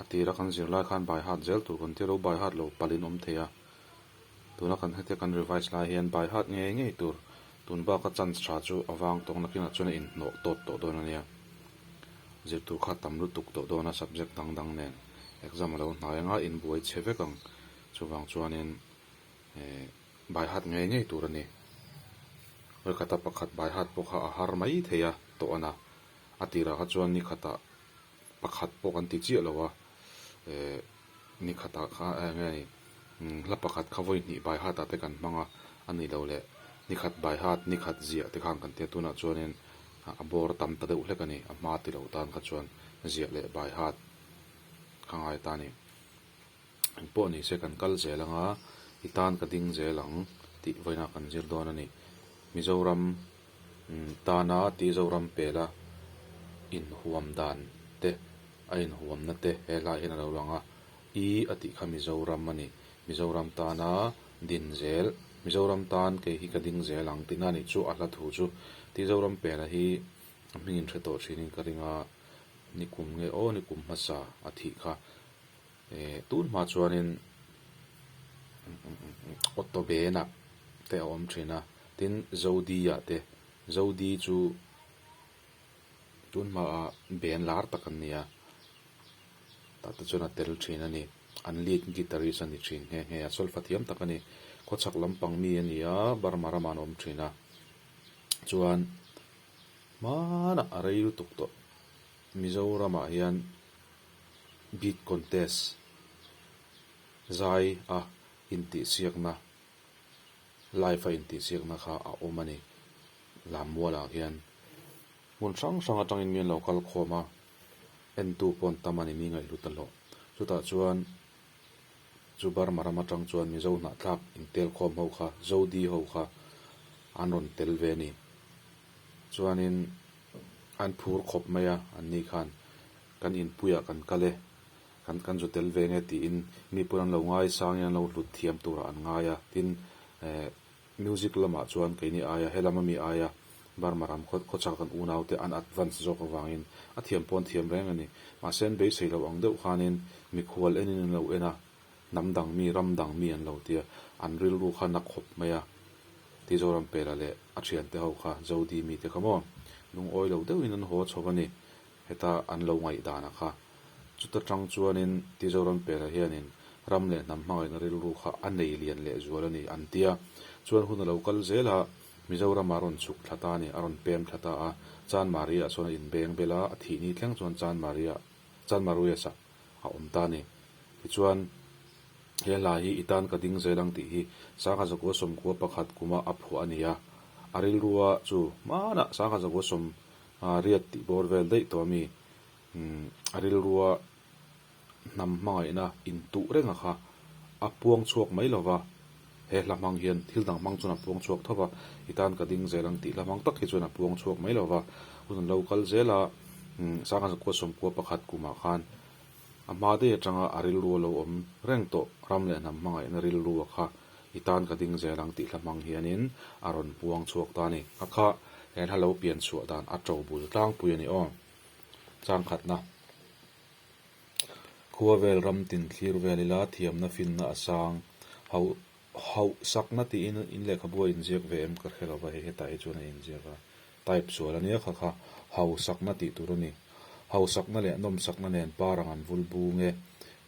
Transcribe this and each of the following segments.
A tir a kan zirlai khan by heart zel tur kan ti lo by heart lo palin awm thei a, tuna kan hete kan revise lai hian by heart ngei ngei tur tun baka chance tha chu a vang tawng nakin a chuna inhnawh tawt tawh dawn a nia, zirtur kha tam lutuk tawh dawn a subject dang dang nen exam a lo hnai anga inbuai che vek ang chuvang chuanin eh by heart ngei ngei tur a ni, rikata pakhat by heart pawh kha a har mai thei a tawh a na, a tirah kha chuan nikhatah pakhat pawh kan ti chiah lo a, eh ni khatah kha eh nge ni umm hla pakhat kha vawihnihh baihatah te kan hmang a, a nih loh leh ni khat baihat ni khat ziah te kha ang kan ti a, tunah chuanin a bawr tam ta deuh hlek a ni, a hma ti loh tan kha chuan ziah leh baihat kha ngai ta a ni. An pawh ni se kan kal zel anga i tan ka ding zel ang tih vawiinah kan zir dawn a ni. Mizoram tana tih Zoram pela inhuam dan te a inhuamna te he hlai hian a lo lang a, i a tih kha Mizoram a ni. Mizoram tana din zel, Mizoram tan kei hi ka ding zel ang tihna nih chu a hla thu chu tih Zoram pela hi a hmingin hre tawh thin in ka ring a, ni kum nge aw ni kum hmasa a thih kha Eh tun hma chuanin auto bena te a awm thin a tin zodi ah te zodi chu tun hma ah ben lar tak an ni a tah te chuan a tel thin a ni an lead guitarist a ni thin nghe nghe a solfa thiam tak a ni khaw chak lampang mi a ni a burma ram ah an awm thin a chuan hmanah rei lutuk tawh mizoram ah hian. Beat Contest zai a intihsiakna, live a intihsiakna kha a awm a ni. Lammualah hian hmun hrang hrang atangin mi an lo kal khawm a, entu paw'n tam a ni, mi ngaihhlu ta hlawh. Chutah chuan chu Burma ram atang chuan Mizo hnahthlak intel khawm ho kha, Zo di ho kha an rawn tel ve a ni. Chuanin an phur khawp mai a, anni khan. Kan inpuiah kan kal e, kan kan zu tel ve nge tiin mipuiin an lo ngai sangin an lo hlut thiam turah an ngai a. Tin, eh, music lamah chuan keini aia, he lam a mi aia Burma ram khaw khawchhak kan unaute an advance zawk avangin a thiam paw'n thiam reng a ni. Mahse an beisei lo ang deuh khanin mikhual enin an lo en a, hnam dang mi, ram dang mi an lo ti a, an rilru kha nak khawp mai a ti Zorampela leh a thiante ho kha, Zodi mite kha maw, lungawi lo deuhin an haw a chho a ni. Heta an lo ngaihdan a kha. Chuta tang chuanin Tizoram pêla hianin ram leh hnam hmangaihna rilru kha a nei lian leh zual a ni, an ti a. Chuan hun a lo kal zel a, Mizoramah a rawn chhuk thla ta a ni, a rawn pêm thla ta a. Chan Maria-ah chuan a inbêng bel a, a thih ni thleng chuan Chan Maria, Chan Maruias-ah a awm ta a ni. Tichuan, He hla hi i tân ka ding zel ang tih hi Sanghazagoa sawmkua pakhat kuma a phuah a ni a. A rilrua chu hmânah Sanghazagoa sawm A riat tih bawr vel daih tawh a mi? Umm, a rilrua hnam hmangaihna in tuh reng a kha a puang chhuak mai lo va, he hla hmang hian thil dang hmang chuan a puang chhuak tho va, i tan ka ding zel ang tih hla hmang tak hi chuan a puang chhuak mai lo va, hun an lo kal zel a, umm, Sangha Zakua sawmkua pakhat kumah khan A hma dei atanga a rilru a lo awm reng tawh, ram leh hnam hmangaihna rilru a kha i tan ka ding zel ang tih hla hmang hianin a rawn puang chhuak ta a ni. A kha he hla lo pian chhuah dan a to bul tlangpui a ni aw. Changkhatna, Khua vel ram tin thlir vel ila thiamna finna a sang, hauh Hauh sakna tiin in lehkhabu a inziak ve em? Ka hre lo va, hei hetah hi chuan a inziak a, type sual ania kha kha, hauh sakna tih tur a ni. Hauh sakna leh nawm sakna nen par ang an vul bung e.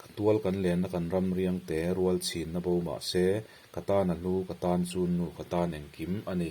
Ka tual kan lenna kan ram riang te, rual chhinna bo mah se, ka tan a hlu, ka tan chunnu, ka tan engkim a ni.